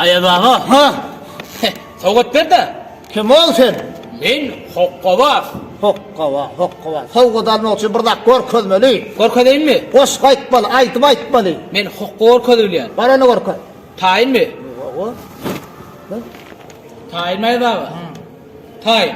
Aýaz aga, ha? Sowgat berde. Kim ol sen? Men Hokkabaz. Hokkabaz, Hokkabaz. Sowgat almak üçin bir zat görkezmeli. Görkezeýinmi? Goşgy aýtmaly, aýdyp aýtmaly. Men hokga görkezip bilýän. Bar ony görkez. Taýynmy? Owo. Taýynmy Aýaz aga? Taýyn.